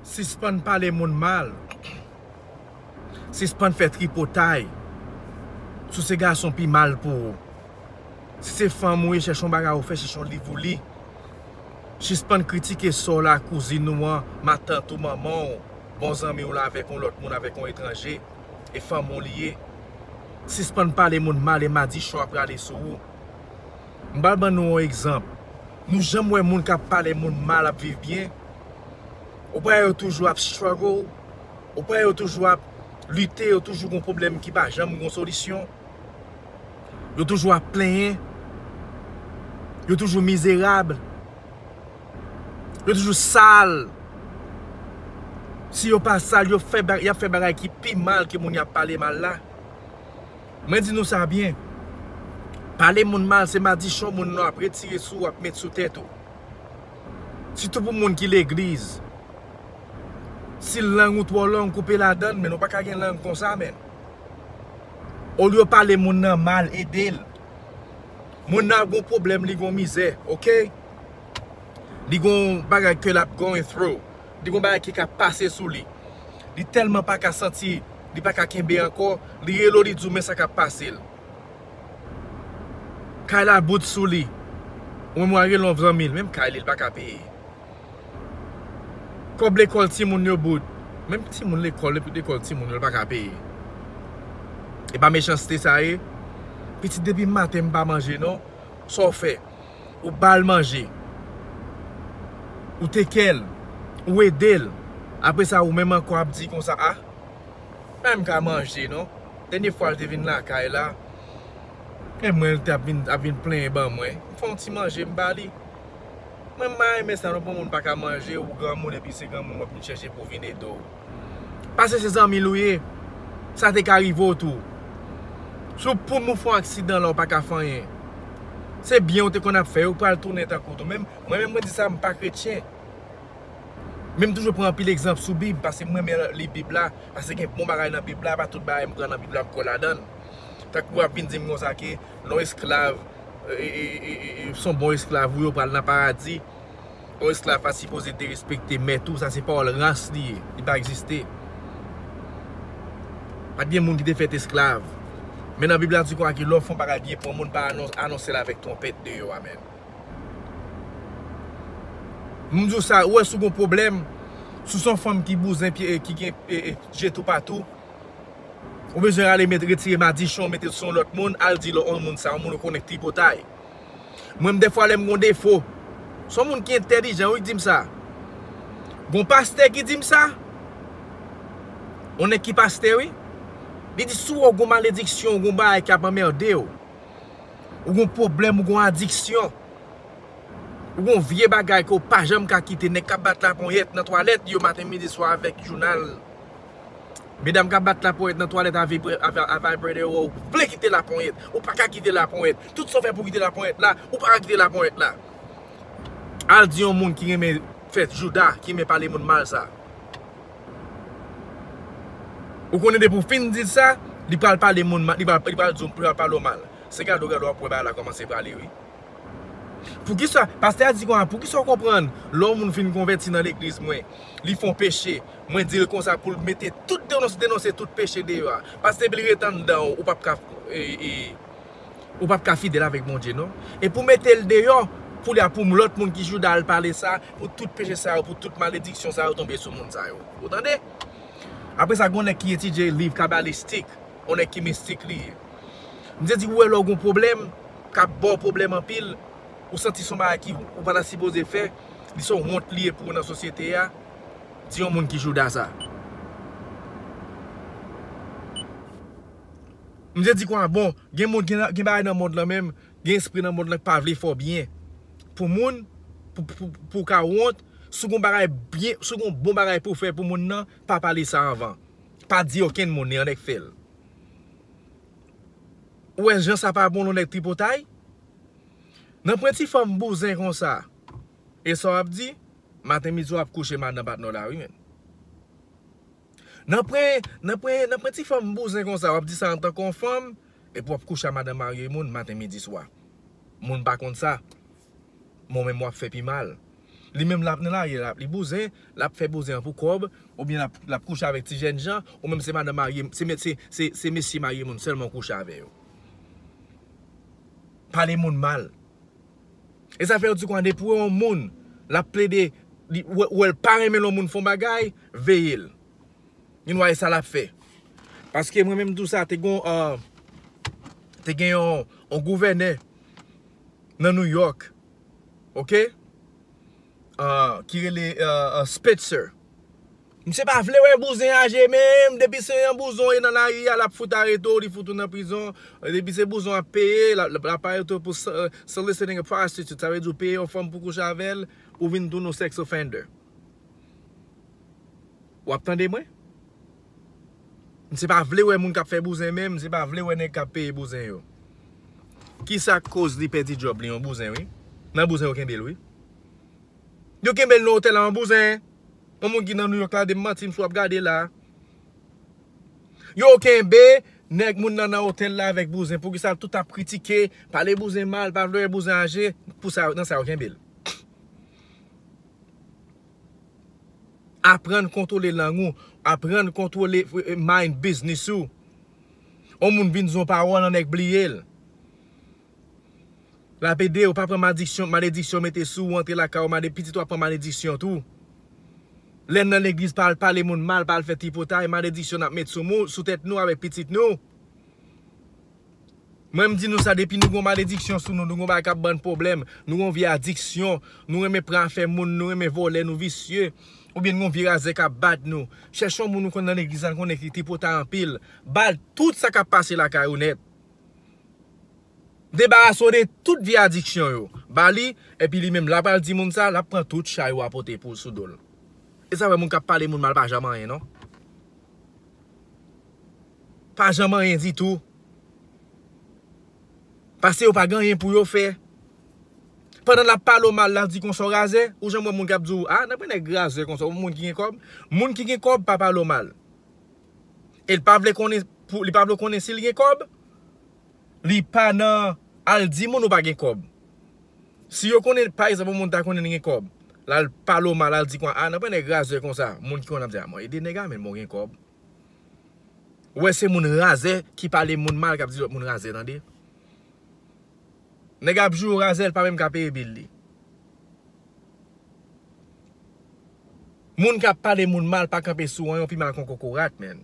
Sispann pale moun mal. Sispann fè tripotay. Si w se gason pi mal pou ou. Si se fanm ou ye chèche yon bagay ou fè, chèche yon liv ou li. Sispann kritike sè w la, kouzin ou an, matant ou, manman w, bon zanmi w la avèk yon lòt moun, avèk yon etranje, e fanmi w li ye. Sispann pale moun mal e madichon ap rale sou ou. M pral ban nou on egzanp. Nou janm wè moun kap pale moun mal ap viv byen? Ou pa wè yo toujou ap struggle? Ou pa wè yo toujou ap lite, yo toujou gon pwoblèm ki pa janm gon solisyon? Yo toujou ap plenyen? Yo toujou mizerab? Yo toujou sal? Si yo pa sal, yap fè bagay ki pi mal ke moun yap pale mal la? Mwen di nou sa byen. Pale moun mal se madichon moun nan ap retire sou ou ap met sou tèt ou. Sitou pou moun ki legliz. Si lang ou twò long koupe ladann men ou pa ka gen lang konsa men. Olye ou pale moun nan mal ede l. Moun nan ap gon pwoblèm li gon mizè ok. Li gon bagay ke l ap going through. li gon bagay ki ka pase sou li. Li tèlman pa ka santi, li pa ka kenbe ankò, li rele w li di w men sa k ap pase l. Kay la bout sou li. Ou menm wa rele yon zanmi l, menm kay li, li pa ka peye. Kòb lekòl timoun yo bout. Menm timoun lekòl, depi lekòl timoun yo li pa ka peye. E pa mechanste sa ye? Pitit depi maten m pa manje non, sa w fè? Ou ba l manje. Ou take care l. Ou ede l. Apre sa ou menm ankò ap di konsa ah m pa menm ka manje non. Dènye fwa l te vin lakay la e mwen l te ap vin plenyen ban mwen. M fè yon ti manje m ba li. Mwen m pa renmen sa non pou moun pa ka manje ou granmoun epi se granmoun w ap vin chèche pou w vin ede w. Pase se zanmi l ou ye, sa te ka rive w tou. Si w poum ou fè yon aksidan la ou pa ka fè anyen. Se byen ou te konn ap fè yo k pral tounen tankou w tou. Mwen menm mwen di sa m pa kretyen. Men m toujou pran anpil egzanp sou bib pase m renmen li bib la. Pase gen bon bagay nan bib la, pa tout bagay m pran nan bib la m kwè ladan l. Tankou wap vin di m konsa ke lè w esklav, se yon bon esklav ou ye ou pral nan paradi. Yon esklav pa sipoze derespekte mèt ou, sa se pawòl ras li ye, li pa egziste. Pa t gen moun ki te fèt esklav. Men nan Bib la di konsa ke lè w fè yon bagay byen pou yon moun, pa anonse l avèk twonpèt deyò a menm. M di w sa, ou wè si w gen yon pwoblèm, si w se yon fanm ki bouzen, ki gen je toupatou, ou bezwen ale retire madichon w mete l sou yon lòt moun, al di l yon moun sa, yon moun ou konnen k tripotay. Mwen m dèfwa lèm gon defo. Son moun ki entèlijan wi ki dim sa. Gon pastè ki dim sa. On nèg ki pastè wi. Li di si wè gon malediksyon, gon bagay ki ap anmerde w. Ou gon pwoblèm, ou gon adiksyon. Ou gon vye bagay ke w pa janm ka kite. Nèg kap bat laponyèt nan twalèt yo maten midi swa avèk jounal. Medam kap bat la ponyèt nan twalèt a vibrator ou vle kite la ponyèt ou paka kite la ponyèt tout sa ou fè pou kite la ponyèt la ou paka kite la ponyèt la al di yon moun ki renmen fè jouda ki renmen pale moun mal sa ou konnen depi ou fin dil sa li pral pale moun mal li pral di ou li pral pale ou mal se gade ou gade wap wè bagay la kòmanse prale wi poukisa pastè a di konsa poukisa ou konprann lè yon moun fin konvèti nan legliz mwen li fon peche Mwen dil konsa poul mete tout denonse denonse tout peche deyò a pask depil ret anndan ou pap ka ou pap ka fidèl avèk Bondye non e pou metel deyò koulye a pou lòt moun ki jouda al pale sa pou tout peche sa yo pou tout malediksyon sa yo tonbe sou moun sa yo ou tande apresa gon nèg ki etidye liv kabalistik on nèg ki mistik li ye misye di ou wè lèw gon pwoblèm kap baw pwoblèm anpil ou santi son bagay ki ou pata sipoze fè li son wont li ye pou ou nan sosyete a. Di yon moun ki jouda sa. Misye di kwa bon, gen moun gen bagay nan mond lan menm, gen espri nan mond lan ki pa vle fè w byen. Pou moun, pou w ka wont, si w gen yon bagay byen, si w gen yon bon bagay pou w fè pou moun nan, pa pale sa anvan. Pa di okenn moun li, yon nèg fè l. Ou wè jan sa pa bon lè yon nèg tripotay? Nan pwen ti fòm bouzen konsa, e sa w ap di? Maten midi wap kouche madan patnè w la wi menn. Nan pwen nan pwen nan pwen ti fanm bouzen konsa wap di sa antan kon fanm epi wap kouche a madan marye moun maten midi swa moun pa konn sa mou menm wap fè pi mal li menm lap nan lari lap li bouzen lap fè bouzen an pou kòb oubyen lap lap kouche avèk ti jèn jan ou menm se madan marye se mèt se se se mesye marye moun sèlman ou kouche avè yo pale moun mal. E sa fè yo di kon depi wè yon moun lap plede li wèl pa renmen lè yon moun fon bagay veyel li nwa esa lap fè paske mwen menm tou sa te gon te gen yon gouvènè nan new york ok ki rele spetzer Misye pa vle wè bouzen aje menm depi se yon bouzon ye nan lari a lap fout arete w li fout ou nan prizon depi se bouzon ap peye lap arete w pou soliciting a prostitute sa vle di w peye yon fanm pou kouche avè l ou vin tounen w sex offender wap tande mwen misye pa vle wè moun kap fè bouzen menm misye pa vle wè nèg kap peye bouzen yo kisa k koz li pèdi djòb li yon bouzen wi nan bouzen yo kenbe l wi Yo kenbel nan otèl la an bouzen. Yon moun ki nan New York la dim mantim si wap gade la. Yo kenbe nèg moun nan nan otèl la avèk bouzen poukisa tout ap kritike pale bouzen mal pa vle wè bouzen aje pou sa nan sa yo kenbel. Aprann kontwole lang ou, aprann kontwole mind business ou. Yon moun vin di yon pawòl yon nèg bliyel. Lap edew pa pran madiksyon malediksyon mete sou ou antre lakay ou made pitit ou ap pran malediksyon tou lèn nan legliz pa al pale moun mal pa al fè tripotay malediksyon nap met sou mou sou tèt nou avèk pitit nou mwen mdi nou sa depi nou gon malediksyon sou nou nou gon bagay kap bann pwoblèm nou gon vye adiksyon nou renmen pran afè moun nou renmen vòlè nou visye oubyen nou gon vye razè kap bat nou chèche yon moun ou konn nan legliz la nou konnen ki tripotay anpil bal tout sa kap pase lakay ou nèt. Debarase w de tout vye adiksyon yo. Ba li, epi li menm, la pral di moun sa, lap pran tout chay ou a pote pou l sou do l. E sa fè moun kap pale moun mal pa janm anyen non. Pa janm anyen ditou. Pase yo pa gen anyen pou yo fè. Pandan lap pale w mal la di konsa w razè. Ou janm wè moun kap di w, a nan pran nèg razè konsa, ou moun ki gen kòb. Moun ki gen kòb pa pale w mal. E li pa vle konnen pou li pa vle konnen sil gen kòb? Li pa nan al di moun ou pa gen kòb. Si yo konnen pa ekzanp yon moun ta konnen li gen kòb, lal pale w mal lal di a nan pwen nèg razè konsa, moun ki konnen ap di a mwen ede nèg a men mwen gen kòb. Ou wè se moun razè ki pale moun mal kap di lòt moun razè tande. Nèg ap joure razè li pa menm ka peye bill li. Moun kap pale moun mal pa kanpe sou an yon pima kon kokorat menn.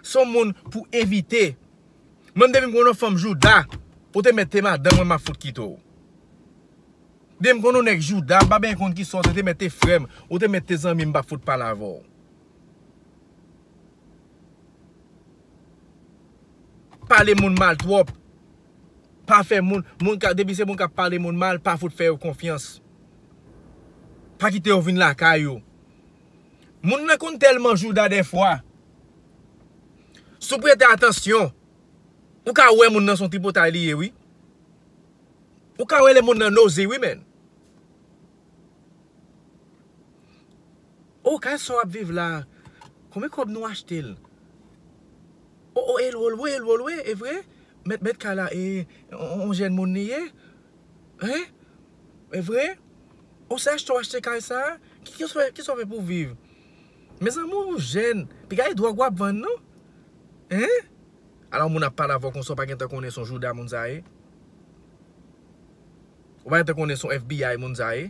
Son moun pou evite. Menm depi m konn yon fanm jouda ou te mèt te madanm mwen map fout kite w. Depi m konn yon nèg jouda m pa benyen konn kisa w te te mèt te frè m ou te mèt te zanmi m pap fout pale avè w. Pale moun mal twòp. Pa fè moun, moun ka, depi se moun kap pale moun mal, pa fout fè yo konfyans. Pa kite yo vin lakay ou. Moun nan konn tèlman jouda dèfwa. Si w prete atansyon, ou ka wè moun nan se yon tripotay li ye wi. Ou ka wè lè moun nan nozy wi menn. Oh kay sa wap viv la konbyen kob nou achtel oh oh el wo lwe el wo lwe evre met met kay la e on jèn moun li ye hein evre oh se achte w achte kay sa kisa w fè pou viv mezanmi ou jèn pi gade drog wap vann non hein alon moun ap pale avèw konsa ou pa gentan konnen son jouda moun sa ye ou pa gentan konnen son FBI moun sa ye.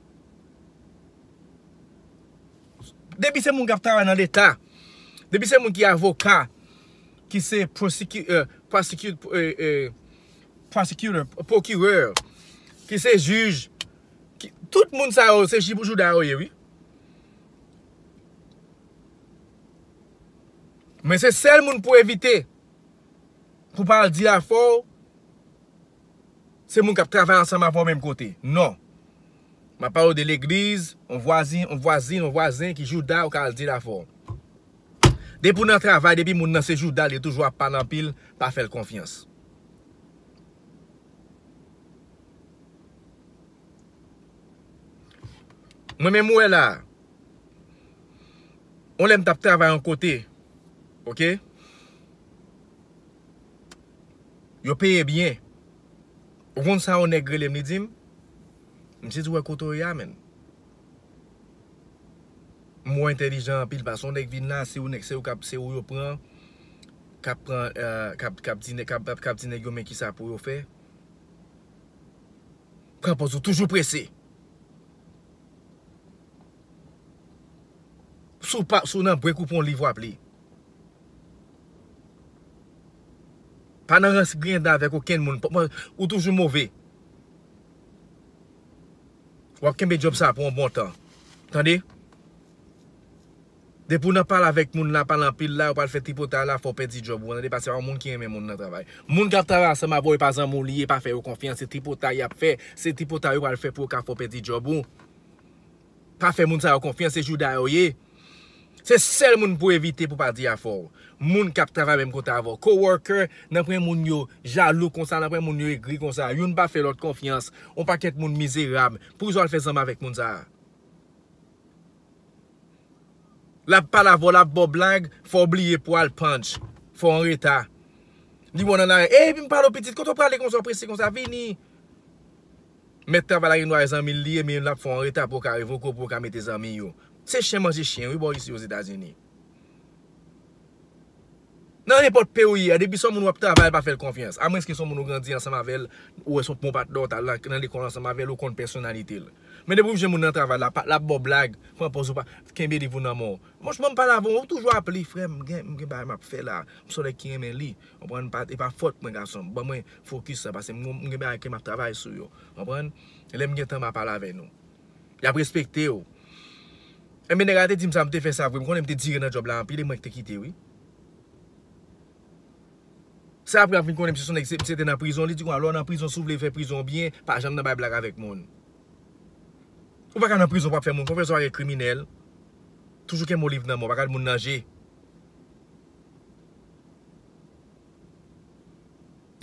Depi se moun kap travay nan leta, depi se moun ki avoka, ki se prosecutor, procureur, ki se juge, tout moun sa yo se jibou jouda yo ye wi. Men se sèl moun pou evite, pou pa al di afè w. Se moun kap travay ansanm avè w menm kote. Non. Map pale w de legliz, yon vwazin, yon vwazin, yon vwazen ki jouda ou ka al di l avè w. Depi w nan travay, depi moun nan se jouda l yo toujou ap pale anpil, pa fè l konfyans. Mwen menm ou wè la a, yon lè m tap travay yon kote, ok. Yo peye byen. Ou konn sa yon nèg rele m li di m? Misye di ou wè kote w ye a menn. M wè w entèlijan anpil paske yon nèg vin la se ou yo pran kap di nèg yo men kisa pou yo fè. Pran pòz ou toujou prese. Si w nan brek ou pran yon liv w ap li. Pa nan rans griyen dan avèk okenn moun. Ou toujou move. W ap kenbe djòb sa a pou yon bon tan. Tande! Depi w nan pale avèk moun la, pale anpil la, ou pral fè tripotay la, fè w pèdi djòb ou an. Tande, paske pa yon moun ki renmen moun nan travay. Moun k ap travay ansanm avè w, e pa zanmi w li ye, pa fè yo konfyans. Se tripotay y ap fè. Se tripotay yo pral fè pou yo ka fè w pèdi djòb ou. Pa fè moun sa yo konfyans se jouda yo ye se sèl moun pou evite pou pa di afèw moun kap travay menm kote avèw coworker nan pwen moun yo jalou konsa nan pwen moun yo egri konsa youn pa fè lòt konfyans on pakèt moun mizerab poukisa wal fè zanmi avèk moun sa lap pale avèw lap baw blag fòw bliye pou al punch fòw anreta li wè w nan lari ey epim pale w pitit kote w prale konsa w prese konsa vini. Mèt travay la gen dwa zanmi l li ye men lap fè w anreta pou w ka revoke w pou yo ka mete zanmi yo. Se chen manje chen wi bò isi Ozetazini. Nan nenpòt peyi w ye a depi se yon moun wap travay pa fè l konfyans. A mwens ke se yon moun ou grandi ansanm avè l, ou wè se yon bon patnè w t al nan lekòl ansanm avè l, ou konn pèsonalite l. Men depi w jwenn moun nan travay la, lap ba w blag, pran pòz ou pa, kenbe liv ou nan men w. Monche mwen pale avè w, ou toujou aple frè m, m gen bagay map fè la, m se yon nèg ki renmen li. Konprann e pa fòt mwen gason ban mwen fokis la pase m gen bagay ke map travay sou yo konprann lèm gen tan ma pale avè nou yap respekte w enben nèg la te dim sa m te fè sa vre m konnen m te dire nan djòb la anpil e mwen ki te kite wi se aprè ap vin konnen misye son nèg misye te nan prizon li di konsa lè w nan prizon si w vle fè prizon w byen pa janm nan bay blag avèk moun ou paka nan prizon pap fè moun konfyans ou pa gen kriminèl toujou kenbe w liv nan men w pa gad moun nan je.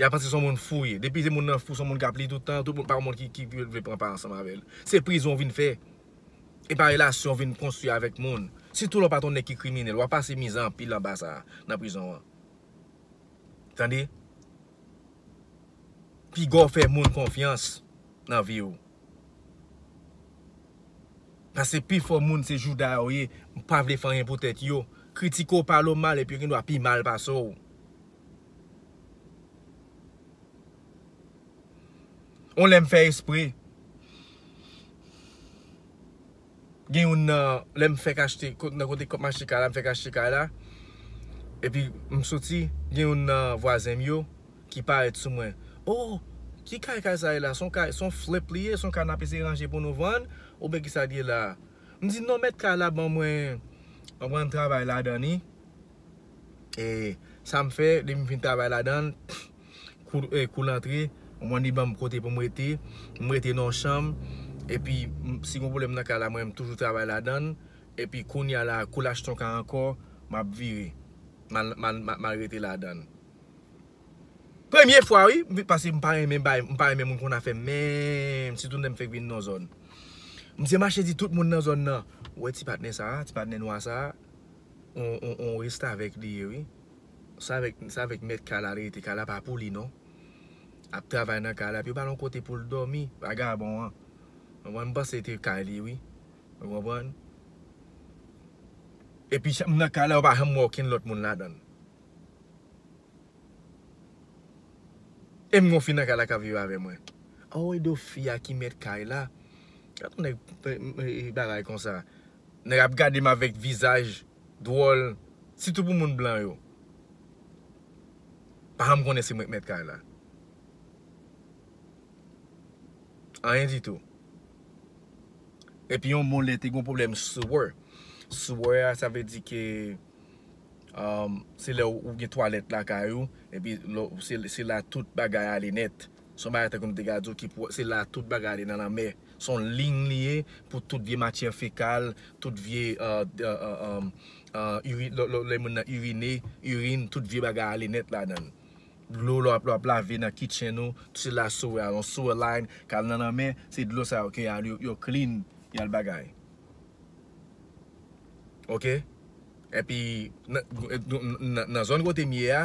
Ya panse son moun fou ye. Depi se moun nan fou son moun kap li tout tan, tout moun pa moun ki vle pran pa ansanm avèl. Se prizon ou vin fè. E pa relasyon ou vin konstwi avèk moun. Sitou lè ou pa ton nèg ki kriminèl. Wap pase mizè anpil anba sa nan prizon an. Tande. Piga ou fè moun konfyans nan vi ou. Pase pifò moun se jouda yo ye, m pa vle fè anyen pou tèt yo. Kritike w pale w mal epi yo gendwa pi mal pase w. On lè m fè espre gen youn nan lè m fèk achte nan kote m achte kay la m fèk achte kay la epi m soti gen youn nan vwazen m yo Ki parèt sou mwen. Oh! Ki kay kay sa ye la? Son kay, son flip li ye? Son kay nap eseye ranje pou nou vann? Oubyen kisa li ye la? M di, non mèt kay la ban mwen, ban mwen travay ladan li. E sa m fè, depi m fin travay ladan l, kou, kou l antre, ou konn li ban m kote pou m rete. M rete nan yon chanm. Epi, si gen yon pwoblèm nan kay la, mwen menm m toujou travay ladan l. Epi, kounya la, kou l achte yon kay ankò, map vire. Mal, mal, mal rete ladan l. Premye fwa wi paske mpa renmen bay mpa renmen moun konn afèm menm sitou lèm fèk vin nan zòn misye mache di tout moun nan zòn nan ou wè ti patnè sa ti patnè nwa sa on restavèk li ye wi sa avèk mèt kay la li rete kay la pa pou li non ap travay nan kay la epi yo bal on kote poul dòmi vagabon an mwen mpanse se te kay li wi ou konprann epi nan kay la ou pa janm wè okenn lòt moun ladann. Em gen yon fi nan kay la kap viv avè mwen. Anweyy do fi a ki mèt kay la. Gad yon nèg bagay konsa. Nèg ap gade m avèk vizaj dwòl sitou pou moun blan yo. Pa janm konnen se mwen ki mèt kay la. Anyen ditou. Epi yon bon lè te gen yon pwoblèm sewer. Sewer a sa vle di ke. Se lè ou gen twalèt lakay ou epi se la tout bagay ale nèt. Se yon bagay tankou m te ka di w ki pou se la tout bagay ale nan lanmè. Se yon liy li ye pou tout vye matyè fekal, tout vye lè moun nan irine, irin, tout vye bagay ale nèt ladan l. Dlo lè w ap lave nan kitchen ou, se la souwè a, yon souwè line kal nan lanmè, se dlo sa yo ki al yo clean, y al bagay. Ok epi nan zòn kote m ye a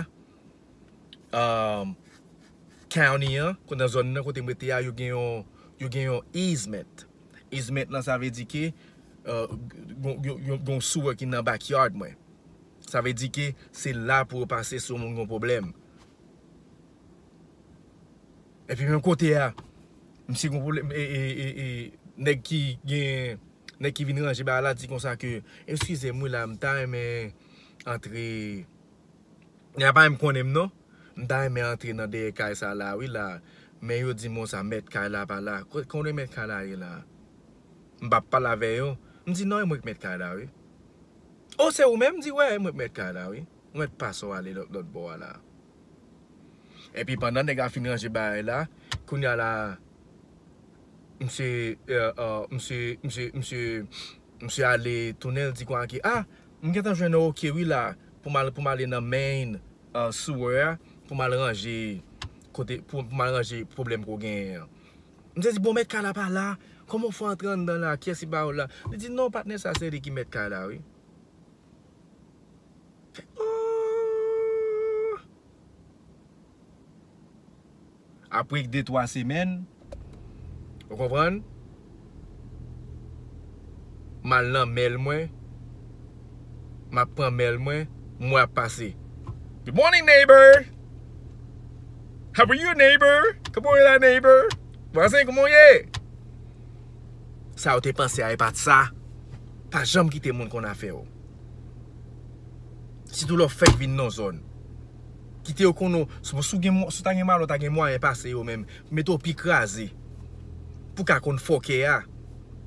County an nan zòn nan kote m rete a yo gen yon yo gen yon easement easement lan sa vle di ke gen yon sewer ki nan backyard mwen sa vle di ke se la pou yo pase si yo gen yon pwoblèm Epi menm kote a, misye gen yon pwoblèm e nèg ki gen, nèg ki vin ranje bagay la di konsa ke, eskize m wi la, m ta renmen antre, nèg la pa menm konnen m non, m ta renmen antre nan dèyè kay sa la wi la, men yo di m konsa mèt kay la pa la, konnen mèt kay la ye la? M pa pale avè yo, m di non e mwen ki mèt kay la wi. O se ou menm? M di wè, e mwen ki mèt kay la wi. Ou mèt pas ou ale lòt bò a la. Epi pandan nèg la fin ranje bagay la, kounya la misye ale tounen l di Kwan ke ah m gentan jwenn yon ok wi la pou m ale nan main sewer a pou m al ranje kote pou m al ranje pwoblèm ke w genyen an. Misye di bon mèt kay la pa la, kòman w fè antre anndan la, kiyès ki ba w la? Li di non patnè sa se li ki mèt kay la wi. Apre de twa semèn, ou konprann, m al nan mail mwen, m ap pran mail mwen, m wè ap pase. Good morning neighbor! How are you neighbor? Kòman ou ye la neighbor? Vwazen kòman ou ye? Sa ou te panse a e pa t sa. Pa janm kite moun konn afè ou. Sitou lè w fèk vin nan yon zòn. Kite yo konnen w. Si w ta gen malòt, w ta gen mwayen pase yo menm. Mete w pi kraze. Pou w ka konn fòkè a.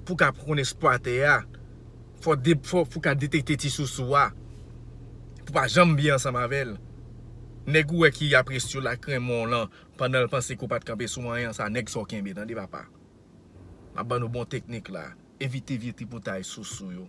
Pou w ka konn esplwatè a. Pou w ka detekte ti sousou a. Pou w pa janm byen ansanm avè l. Nèg ou wè ki ap res yo la krenmon w lan. Pandan l panse ke w pa t kanpe sou anyen. Sa nèg sa w kenbe tande papa. M ap ban nou bon teknik la. Evite vye tripotay sousou yo.